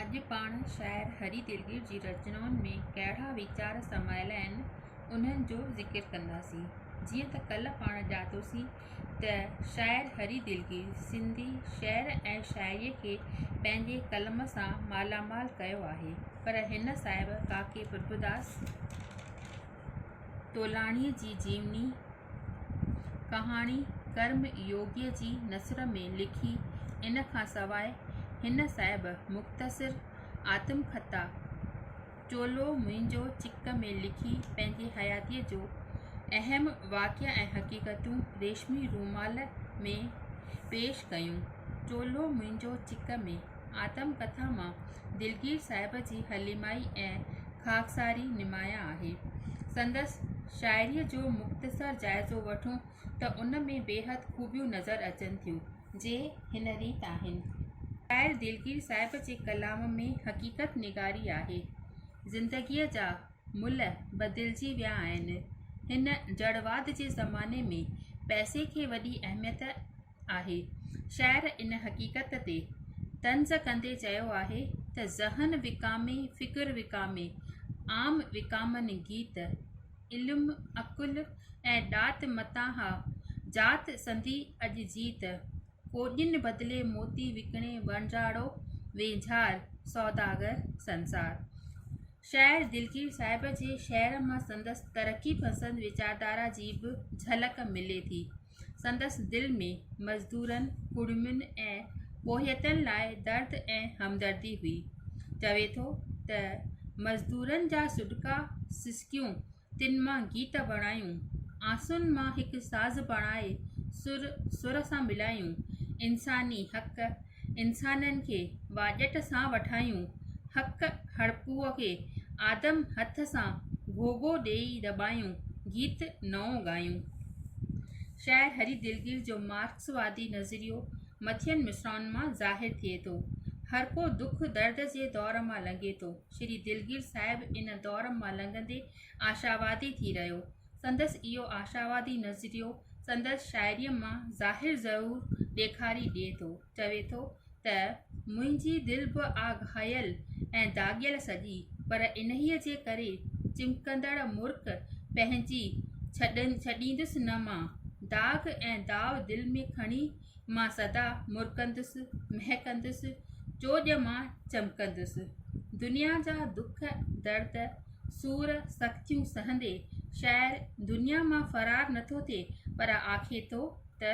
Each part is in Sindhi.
اڄ پاڻ شاعر هري دلگير جي رچنائن ۾ ڪهڙا ويچار سمايل آهن، انهن جو ذڪر ڪنداسين. جيئن ته ڪلهه پاڻ ڄاتوسين ته شاعر هري دلگير سنڌي شعر ۽ شاعريء کي پنهنجي قلم سان مالا مال ڪيو آهي پر هن صاحب ڪاڪي پرڀوداس تولاڻيء جي جيوني، ڪهاڻي ڪرم يوگيء جي نثر ۾ لکي. ان کان سواء هن صاحب مختصر آتم ڪٿا چولو منهنجو چڪ ۾ لکي پنهنجي حياتيء جو اهم واقعا ۽ حقيقتون ريشمي رومال ۾ پيش ڪيون. چولو منهنجو چڪ ۾. آتم ڪٿا مان دلگير صاحب جي حليمائي ۽ خاڪساري نمايان آهي. سندس شاعريء جو مختصر جائزو وٺون ته ان ۾ بيحد خوبيون نظر اچن ٿيون، جي هن ريت آهن. شاعر دلگير صاحب جي ڪلام ۾ حقيقت نگاري آهي. زندگيء جا ملهه بدلجي ويا آهن. هن جڙواد جي زماني ۾ پئسي کي وڏي اهميت آهي. شاعر ان حقيقت تي طنز ڪندي چيو آهي ته ذهن وڪامي فڪر وڪامي عام وڪامن گيت علم عقل ۽ ڏات متان ها ذات سندي اڄ جيت ڪوڏين بدلي موتي وڪڻي وڻجاڙو وينجهار سوداگر سنسار شاعر دلگير صاحب جي شعر مان سندس ترقي پسند ويچاردارا جي به جهلڪ ملي ٿي سندس دل ۾ مزدورن، ڪڙمين ۽ ٻوهيتن لاء درد ۽ همدردي هئي. چوي ٿو ته، مزدورن جا سڏڪا سسڪيون، تن مان گيت بڻايون، آنسون مان هڪ ساز بڻائي سر سر سان ملايون، انساني حق، انسانن کي واڄٽ سان وٺايون، حق هڙپوء کي آدم هٿ سان گهوگهو ڏيئي دٻايون، گيت نئون ڳايون. شاعر هري دلگير جو مارڪسوادي نظريو مٿين مصرعن مان ظاهر ٿئي ٿو. هڙپو دک درد جي دور مان لنگهي ٿو. شري دلگير صاحب ان دور مان لنگهندي آشاوادي ٿي رهيو. سندس اهو آشاوادي نظريو سندس شاعريء مان ظاهر ضرور ڏيکاري ڏئي ٿو، چوي ٿو ته، منهنجي دل به آ گهايل ۽ داغيل سڄي، پر انهيء جي ڪري چمڪندڙ مرڪ پنهنجي ڇڏيندس نه مان، داغ ۽ داو دل ۾ کڻي مان سدا مرڪندس مهڪندس چوڄ مان چمڪندس دنيا جا دک درد سور سختيون سهندي شاعر دنيا مان فرار نٿو ٿئي پر آکي ٿو ته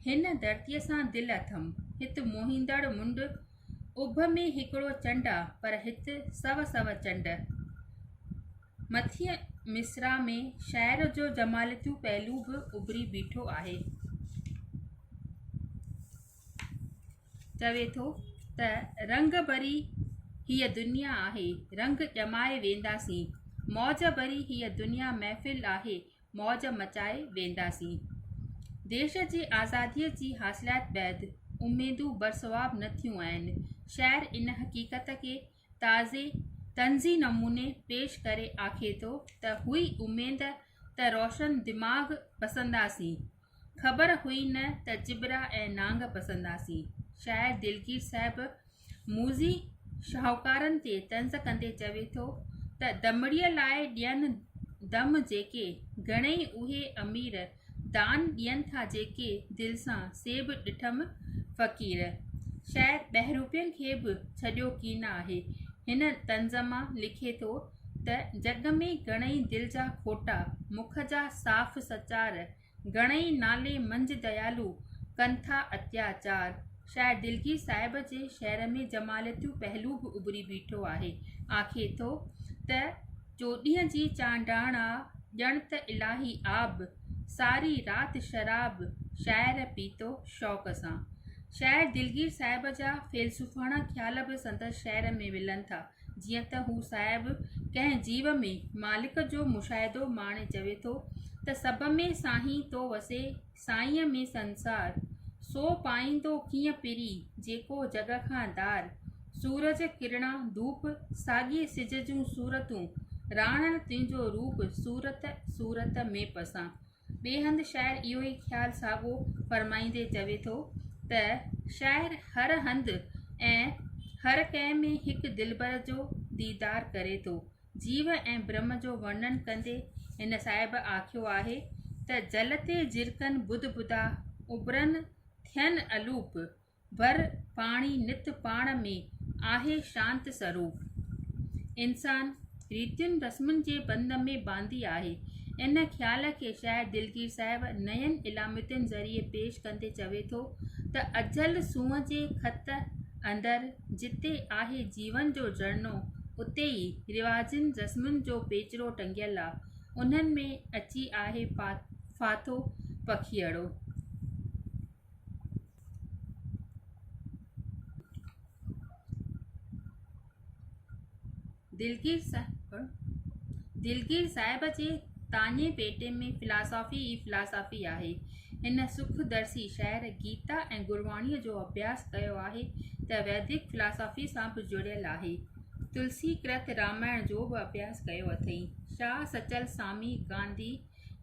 هن ڌرتي سان دل اٿم هت موهيندڙ منڊ اڀ ۾ هڪڙو چنڊ آ پر هت سو سو چنڊ مٿينء مصرع ۾ شاعر جو جمالياتي پهلو به اڀري بيٺو آهي. چوي ٿو ته رنگ ڀري هيء دنيا آهي، رنگ ڄمائي وينداسين. موج ڀري هيء دنيا محفل آهي، موج مچائي وينداسين. ديش جي آزاديء جي حاصليات بعد اميدون برسواب نه ٿيون آهن. شاعر ان حقيقت کي تازي طنزي نموني پيش ڪري آکي ٿو ته هئي اميد ته روشن دماغ پسنداسين خبر هئي نه ته چٻرا ۽ نانگ پسنداسين شاعر دلگير صاحب موذي شاهوڪارن تي طنز ڪندي چوي ٿو ته دمڙي لاء ڏين دم جيڪي گهڻئي اهي امير دان ڏين ٿا جيڪي دل سان سي به ڏٺم فقير شايد ٻهروپين کي به ڇڏيو ڪين آهي هن طنز مان لکي ٿو ته جڳ ۾ گهڻئي دل جا کوٽا مک جا صاف سچار گهڻئي نالي منجهه ديالو ڪن ٿا اتياچار شاعر دلگير صاحب جي شعر ۾ جمالياتيون پهلو به اڀري بيٺو آهي آکي ٿو ته چوڏهين جي چانڊاڻا ڄڻ ته الاهي آب ساري رات شراب شاعر پيتو شوق سان شاعر دلگير صاحب جا فيلسوفاڻا خيال به سندس شعر ۾ ملن ٿا جيئن ته هو صاحب ڪنهن جيو ۾ مالڪ جو مشاهدو ماڻي چوي ٿو ته سڀ ۾ سائين تو وسي سائينء ۾ سنسار، سو پائيندو ڪيئن پري، جيڪو جڳ کان ڌار. سورج ڪرڻا ڌوپ، ساڳيء سج جون صورتون، راڻڻ تنهنجو روپ، صورت صورت ۾ پسان. ٻئي هنڌ شاعر اهو ئي خيال ساڳو فرمائيندي چوي ٿو ته، شاعر هر هنڌ ۽ هر ڪنهن ۾ هڪ دلبر جو ديدار ڪري ٿو، جيو ۽ برهم جو ورنن ڪندي هن صاحب آکيو آهي ته جل تي جرڪن ٻڌ ٻڌا اٻرن ٿين الوپ ڀر پاڻي نت پاڻ ۾ آهي شانت سروپ انسان ريتين رسمن جي بند ۾ باندي آهي ان خيال کي شاعر دلگير صاحب نين علامتين ذريعي پيش ڪندي چوي ٿو ته اجل سونهن جي خط اندر جتي آهي جيون جو جهرنو اتي ئي رواجن رسمن جو پيچرو ٽنگيل آ انهن ۾ اچي آهي ڦا ڦاٿو پکيئڙو دلگير صاحب دلگير صاحب جي تاڃي پيٽي ۾ فلاسافي ئي فلاسافي آهي. هن سک درسي شعر، گيتا ۽ گرواڻيء جو اڀياس ڪيو آهي ته ويدڪ فلاسافي سان به جڙيل آهي. تلسي ڪرت رامائڻ جو به اڀياس ڪيو اٿئي. شاهه سچل سامي، گانڌي،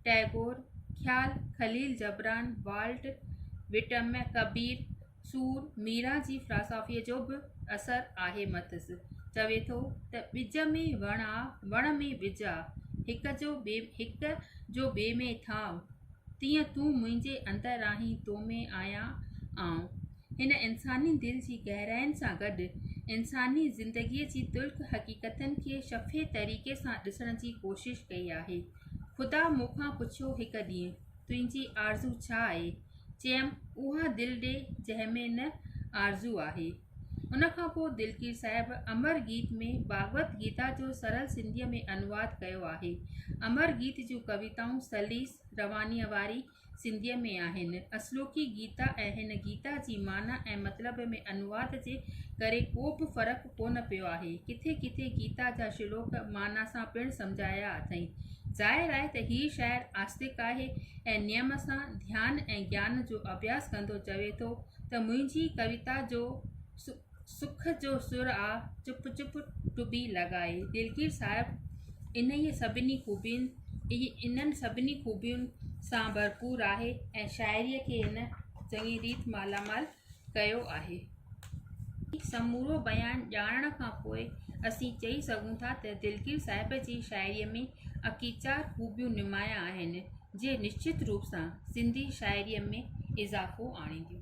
ٽئگور، خيال، Khalil Gibran, Walt, Whitman, Kabir, Sur Meera جي فلاسافيء جو به اثر آهي مٿس چوي ٿو ته ٻج ۾ وڻ آ وڻ ۾ ٻج آ هڪ جو ٻي هڪ جو ٻئي ۾ ٿانء تيئن تون منهنجي اندر آهين تو ۾ آهيان آئون هن انساني دل جي گهراين سان گڏ انساني زندگيء جي تلخ حقيقتن کي شفهي طريقي سان ڏسڻ جي ڪوشش ڪئي آهي خدا مون کان پڇيو هڪ ڏينهن تنهنجي آرزو ڇا آهي؟ چيم، اها دل ڏي جنهن ۾ نه آرزو آهي. ان کان پوء دلگير صاحب امر گيت ۾ ڀاڳوت گيتا جو سرل سنڌيء ۾ انواد ڪيو آهي. امر گيت جون ڪويتائون سليس روانيء واري سنڌيء ۾ آهن. اصلوڪي گيتا ۽ هن گيتا جي معنيٰ ۽ مطلب ۾ انواد جي ڪري ڪو به فرق ڪونه پيو آهي. ڪٿي ڪٿي گيتا جا شلوڪ معنيٰ سان پڻ سمجهايا اٿئي. ظاهر آهي ته هي شاعر آستڪ آهي ۽ نيم سان ڌيان ۽ گيان جو اڀياس ڪندو چوي ٿو ته منهنجي ڪويتا جو سک جو سر آ چپ چپ ٽٻي لڳائي. دلگير صاحب انهيء سڀني خوبين انهن سڀني خوبين سان ڀرپور آهي ۽ شاعريء کي هن چڱي ريت مالامال ڪيو آهي. هي سمورو بيان ڄاڻڻ کان پوء اسين چئي سگهون ٿا ته دلگير صاحب جي شاعريء ۾ اڪيچار خوبيون نمايان آهن، جي نشچت روپ سان سنڌي شاعريء ۾ اضافو آڻينديون.